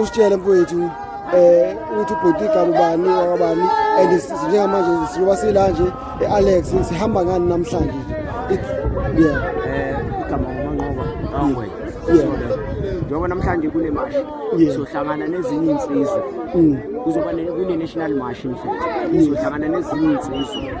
usitshele mfowethu um eh, ukuthi ubhuti igama ubani wakabani and njengamanje siloba sila nje e-alex sihamba ngani namhlanje yeah eh, igama umanqoba angwe njengoba namhlanje kule mashi sizohlangana nezinye iy'nsizwa mm. kuzoba kune-national mashi mfethu sizohlangana nezinye iy'nsizwa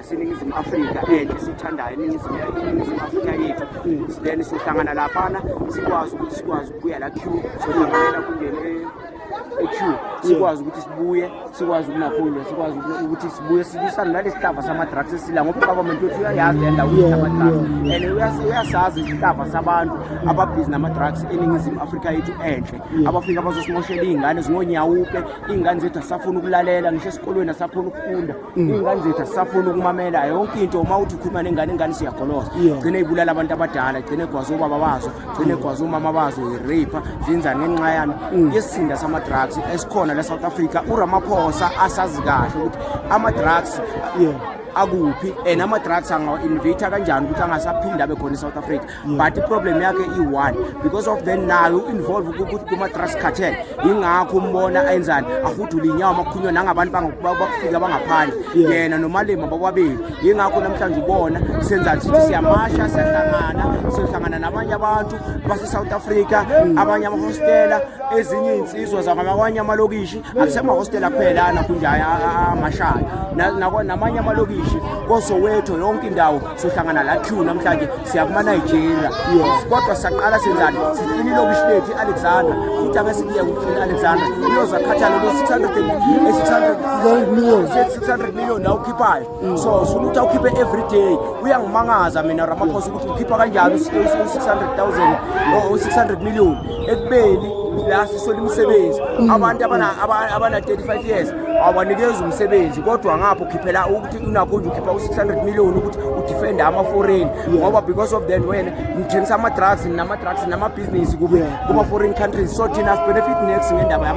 siningizimu afrika enhle sithandayo iningizimu afrika yethu then sihlangana laphana sikwazi ukuthi sikwazi ukubuya la q sohlanganela kungene eq sikwazi ukuthi sibuye sikwazi ukunaphulwa sikwazi ukuthi sibuye silwisane nalesi hlava sama-drugs esila ngoba ugovernment wethu uyayazi le ndawo ukuthi ama-drugs and uyasazi isihlava sabantu ababhizi nama-drugs eningizimu afrika yethu enhle abafike abazosimoshela iy'ngane zingonyawupe iy'ngane zethu asisafuni ukulalela ngisho esikolweni asakhona ukufunda Mm. iy'ngane zethu asisafuni ukumamela yonke into uma uthi ukhuluma nengane ingane siyagoloza gcine ibulala abantu abadala gcine egwaza obaba bazo gcine mm. egwaza umama bazo ireyipha zenzani ngenxa yami mm. isizinda sama-drugs esikhona la south africa uramaphosa asazi kahle ukuthi ama-drugs akuphi and ama-drugs angawa-invita kanjani ukuthi angasaphinde abe khona e-south africa but iproblem yakhe iyi-one because of then nayo u-involve kuma-trust cartel yingakho umbona enzani ahudule inyawo makukhunywa nangabantu bakufika bangaphandle yena nomalima bakwabili yingakho namhlanje ubona senzani sithi siyamasha siyahlangana siyohlangana nabanye abantu base-south africa mm. abanye amahostela ezinye iy'nsizwa zakwamanye amalokishi akusemahostela kuphelana kunje amashayo namanye amalokishi kosoweto yonke indawo sohlangana la q namhlanje siya kuma-nigeria yes kodwa saqala senzani siklini ilokishi lethu i-alexandra futhi ake sikiye kuklini i-alexandra uyozakhathala lo 600 million la ukhiphayo mm. so sifuna ukuthi awukhiphe every day uyangimangaza mina ramaphosa ukuthi ukhipha kanjani u-600 000 u-600 million ekubeni la sisola imisebenzi mm. abantu abana-35 years awanikezi umsebenzi kodwa ngapho ukhiphela unakho nje ukhipha u-600 million ukuthi udefende ama-foreign ngoba because of then wena ngithengisa ama-drugs nama-drugs namabhizinisi kuma-foreign countries so thina sibenefit next ngendaba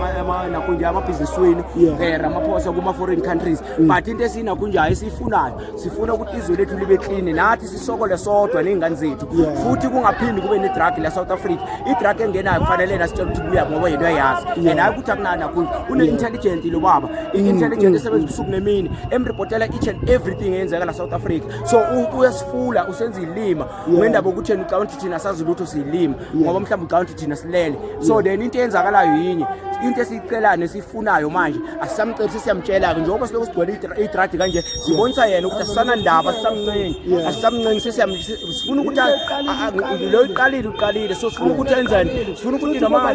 nakho nje amabhizinisi wenu um eh, ramaphosa kuma-foreign countries mm. but into esinakho nje ayi siyifunayo sifuna ukuthi izwe lethu libe clean nathi sisokole sodwa ney'ngane zethu futhi kungaphindi kube ne-drug la south africa i-drug engenayo kufanele yena sitshela ukuthi buya ngoba yena uyayazi and hayi ukuthi akunani nakhulu une-intelligent lo baba i-intelligent mm, mm. esebenza ubusuku nemini emripotela each and everything eyenzeka la south africa so uyasifula usenza ilima ngendaba yokutheni ucabanga ukuthi thina sazi lutho siyilima ngoba mhlawumbe ucabanga ukuthi thina silele so then into eyenzakalayo yinye into esiyicelayo nesiyifunayo manje asisamceli sesiyamtshela-ke njengoba silokhu sigcwele idradi kanje sibonisa yena ukuthi asisanandaba asisamncengi asisamncengi sifuna ukuthi lo iqalile uqalile so sifuna ukuthi enzeni sifuna ukuthi noma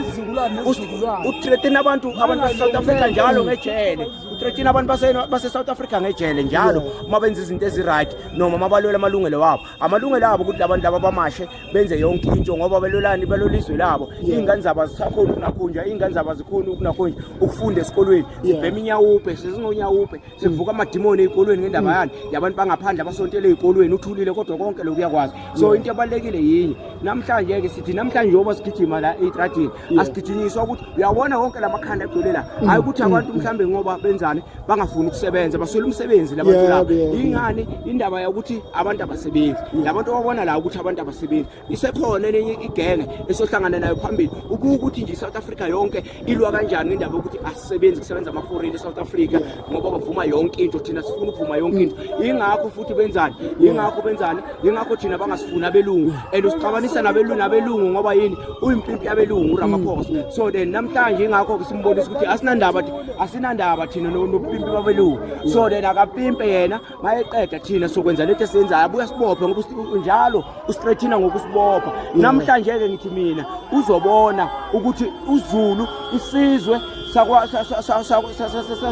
uthretin abantu abantu basesouth africa njalo ngejele uthretin abantu basesouth africa ngejele njalo uma benza izinto eziright noma uma balwela amalungelo wabo amalungelo abo ukuthi labantu laba bamashe benze yonke into ngoba belolani belolizwe labo iy'ngane zabo azisakhoni ukunakhunjwa iy'ngane zabo azikhoni ukunakhunjwa ukufunda esikolweni sibhema inyawupe sezingonyawupe sivuka amadimoni ey'kolweni ngendaba mm. yani yabantu bangaphandle abasontele ey'kolweni uthulile kodwa konke lokhu uyakwazi so into ebalulekile yinye namhlanje-ke sithi namhlanje yoba sigijima la ey'tradini asigijinyiswa ukuthi uyawona wonke la makhanda egcwele la mm. hayi ukuthi abantu mm. mhlawumbe ngoba benzani bangafuni ukusebenza baswele umsebenzi labantu laba ingani indaba yokuthi abantu abasebenzi mm. labantu ababona la ukuthi abantu abasebenzi isekhona enye igenge esohlangana nayo phambili ubuke ukuthi nje i-south africa yonke ilwa kanjani ngendaba yokuthi asisebenzi kusebenza amaforeni e-south africa ngoba bavuma yonke into thina sifuna ukuvuma yonke into yingakho futhi benzani yingakho benzani yingakho thina bangasifuni abelungu and usixabanisa nabelungu nabelungu ngoba yini uyimpimpi yabelungu uramaphosa mm. so then namhlanje yingakho-ke simbonisa ukuthi asinandaba asinandaba thina nobupimpi babelungu so then akapimpe yena mayeqeda thina sokwenza lethu esiyenzayo abuye sibophe ngoba njalo ustrethina ngokusibopha mm. namhlanje-ke ngithi mina uzobona ukuthi uzulu isizwe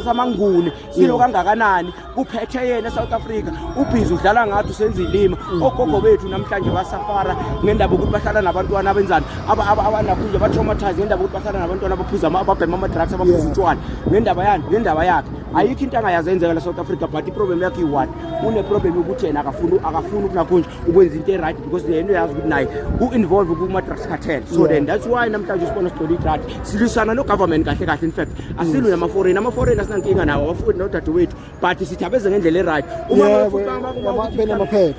samanguni silo kangakanani kuphethe yena esouth africa ubhizi udlala ngathi usenza ilima mm. ogogo bethu namhlanje basafara ngendaba yokuthi bahlala nabantwana abenzani abanakhunje abatraumatise ngendaba yokuthi bahlala nabantwana abaphuza ababhema ama-drugs abaphuza utshwana ngendaba yani ngendaba yakhe ayikho into angayazi enzeka la South Africa but iproblem yakhe iyi-one uneproblem yokuthi yena akafuni akafuni ukunakhonje ukwenza into e-right because yena uyazi ukuthi naye u-involve kuma-drugs cartel so then that's why namhlanje usibona sigcwele idrad silwisana nogovernment kahle kahle in fact asilwi namaforeign amaforeign asinankinga nawo abafundi nodadewethu but sithabeze ngendlela e-right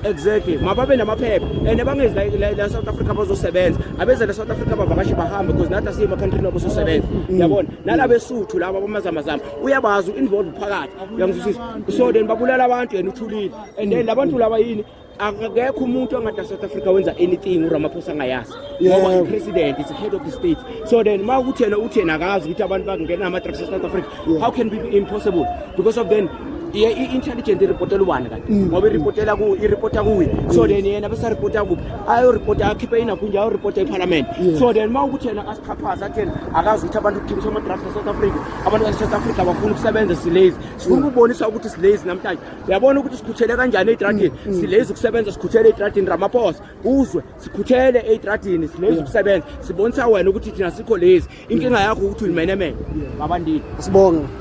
exactly mababe namaphepha and bangezi la south africa bazosebenza abeze la south africa bavakashe bahambe because nathi asiyema country nobo sosebenza mm. yabona nalabesuthu laba bamazamazama uyabazi involve phakathi uyangizwisisa so then babulala abantu yena uthulile and then labantu laba yini akekho umuntu ongada South Africa wenza anything uRamaphosa angayazi ngoba yeah. president is head of the state so then ma ukuthi yena uthi yena akazi ukuthi abantu bakungena ama drugs South Africa yeah. how can be impossible because of then ye i-intelligent iripotela ubani kanti mm. ngoba iripotela ku iripota kuye so then yena bese aripota kuphi ayoripota akhiphe inakunje ayoripota ephalamende so then uma ukuthi yena asichaphaza atheni akazi ukuthi abantu kuthengiswa ama-drugs e-south africa abantu base-south africa bafuna ukusebenza silazy sifuna mm. ukubonisa ukuthi silazy namhlanje uyabona ukuthi sikhuthele kanjani eyitradini mm, mm. silazy ukusebenza sikhuthele eyitradini ramaphosa uzwe sikhuthele eyitradini silazy ukusebenza sibonisa wena ukuthi thina sikho lazy inkinga yakho ukuthi uyimenemene babandile sibonge